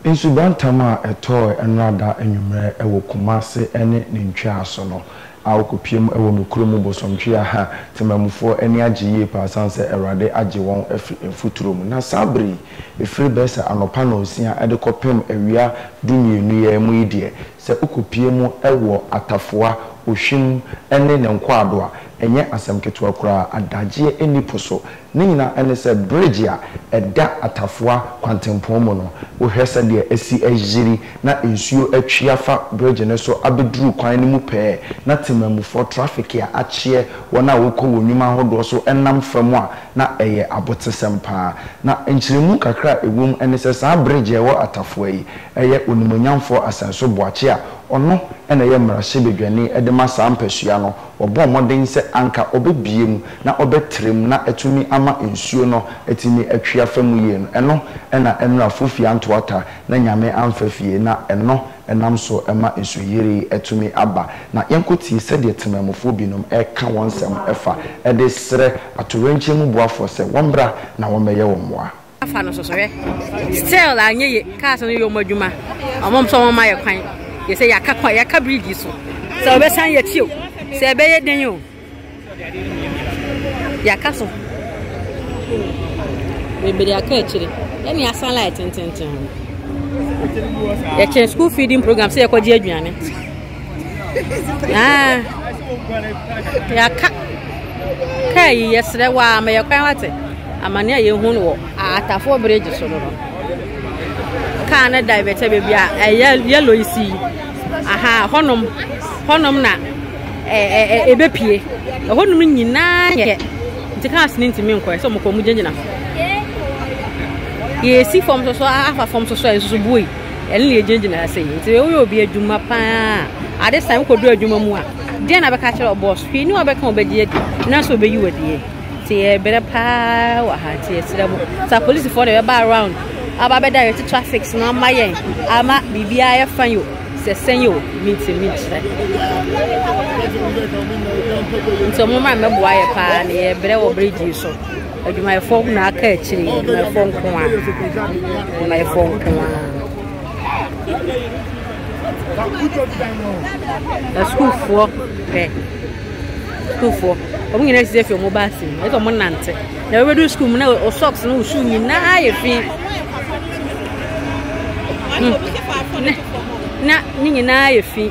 Nsubantam a ɛtɔe Ɛnrada anwummerɛ wɔ Kumase ne ne ntweaso no a wɔkɔpiam wɔ me kuro mu bosomtwea ha Temamufoɔ ani agye yie paa ɛsiane sɛ Awurade agye wɔn afiri mfuturo mu na saa berɛ yi ɛfiri bɛyɛ sɛ anɔpa nnɔnsia de kɔpem awia du mmienu yi ara mu yi deɛ sɛ wokɔpiam wɔ Atafoa, Ohwim ne Nenkwado a ɛnyɛ asɛm ketewa koraa adagyeɛ nni po so Ne nyinaa ne sɛ bridge a ɛda Atafoa kwantempɔn mu no, wohwɛ sɛdeɛ asi ayiri na nsuo atwi afa bridge no so abɛduru kwan no mu pɛɛ na temammufoɔ, traffic a akyeɛ, wɔn a wɔkɔ wɔn nnwuma ahodoɔ so nam fa mu a, na ɛyɛ abotesɛm pa ara. Na nkyerɛmu kakra a ɛwɔ mu ne sɛ saa bridge a ɛwɔ Atafoa yi, ɛyɛ Onimuonyamfoɔ Asɛnso Boakye a ɔno na ɛyɛ mmarahyɛbadwani de ma saa mpasua no, Wɔbɔɔ mmɔden sɛ anka ɔbɛbue mu na ɔbɛtrɛ mu na atumi ama nsuo no atumi atwi afa mu yie no, ɛno na ɛnora fofie antoata na Nyame amfa fie na ɛno nam so ma nsuyiri tumi aba. Na yɛnkɔtie sɛdeɛ temanmufoɔ binom reka wɔn nsɛm fa de srɛ atoyerɛnkyɛm mu boafoɔ sɛ wɔmmra na wɔmmɛyɛ wɔn mmoa. afa no sɔsɔhwɛ still anyɛ ye cars no yɛ ɔmo adwuma ɔmo nso ɔmo ma yɛ kwan yɛ sɛ yɛaka kwan yɛaka bridge so sɛ ɔbɛsan yɛ ti o sɛ ɛbɛyɛ den o yɛaka so bebree aka akyire ɛne asan light tententen yɛkyɛn school feeding program sɛ yɛkɔgye aduane Ah, yɛaka kaa yi yɛserɛ wɔ a ma yɛ kwan wate amane a yɛhu no wɔ atafoɔ bridge so no no kaa no divɛtɛ baabi a ɛyɛ yɛlɔ yi si aha hɔnom hɔnom na ɛbɛpie ɛhɔnom nyinaa yɛ nti cars no ntumi nkɔɛ sɛ ɔmokɔ mu gyinagyina yɛsi fam soso afa fam soso a nsusu bui Ɛno na yɛgyinagyina ha sɛ yi. Nti woyɛ obi adwuma paa ade san wokɔdu adwuma mu a deɛ na bɛka kyerɛ ɔbɔs hwee ne ɔbɛka ɔbɛgye adi na sɛ ɔbɛyi wadie nti yɛbrɛ paa wɔ ha nti yɛsrɛ mo sɛ apolisifoɔ na ɛbɛba around aba bɛda yɛte traffic no ama yɛn ama biribiara yɛ fa yo sɛ sɛn yo minti minkyerɛ nti ɔmo ma mɛboa yɛ paa ne yɛbrɛ wɔ bridge so Adwumayɛfoɔ na aka akyiri adwumayɛfoɔ nko a adwumayɛfoɔ nko a asukuufoɔ pɛ sukuufoɔ wɔn nyinaa sisi efi wɔn ba ase mu ɛsɛ wɔn nante na wɔbɛdu sukuu mu na o socks na o shoe nyinaa yɛ fi hmm. na ne nyinaa yɛ fi.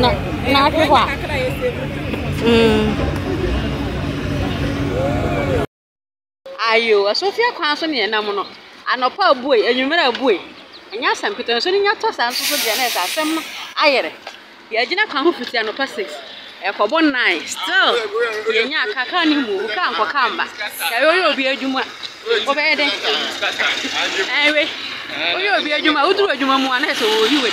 na na ahwɛ hɔ a mm. ayo asofie kwan so ne ɛnam no anɔpa abue anwummerɛ abue ɛnyɛ asɛm kete nso ne nya tɔ saa nso so deɛ na ɛsɛ asɛm no ayɛrɛ yɛagyina kwan ho fiti anɔpa 6 ɛkɔbɔ 9 still yɛnya kakra ne mu obu kaa nkɔ kaa mba yɛyɛ ɔyɛ obi adwuma wobɛyɛ dɛn ɛwe woyɛ obi adwuma woduru adwuma mu a na ɛsɛ wɔyi wei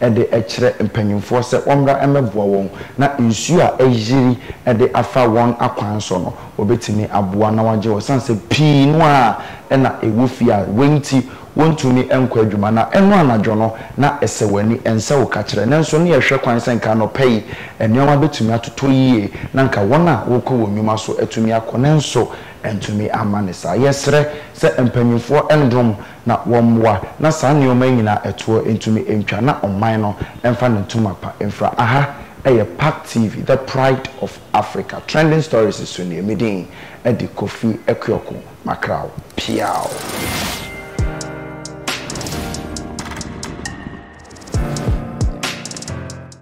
de rekyerɛ mpanimfoɔ sɛ wɔmmra mmɛboa wɔn na nsuo a ayiri de afa wɔn akwan so no, wɔbɛtumi aboa na wɔagye wɔn ɛsiane sɛ pii no ara na ɛwɔ fie a wei nti wɔntumi nkɔ adwuma na ɛno anadwo no na ɛsɛ w'ani ɛnsɛ wo ka kyerɛ nanso na yɛhwɛ kwan sɛ nka anɔpa yi nneɛma bɛtumi atotɔ yie na nka wɔn a wɔrekɔ wɔn nnwuma so atumi akɔ nanso antumi amma no saa. Yɛsrɛ sɛ mpanimfoɔ nnrom na wɔmmoa na saa nneɛma yi nyinaa ɛtoɔ ntumi ntwa na ɔman no mfa ne ntoma pa mfira. Aha yɛ Park TV, the pride of Africa. Trending Stories so nie, me din de Kofi Akuoko Makraw. Piaw!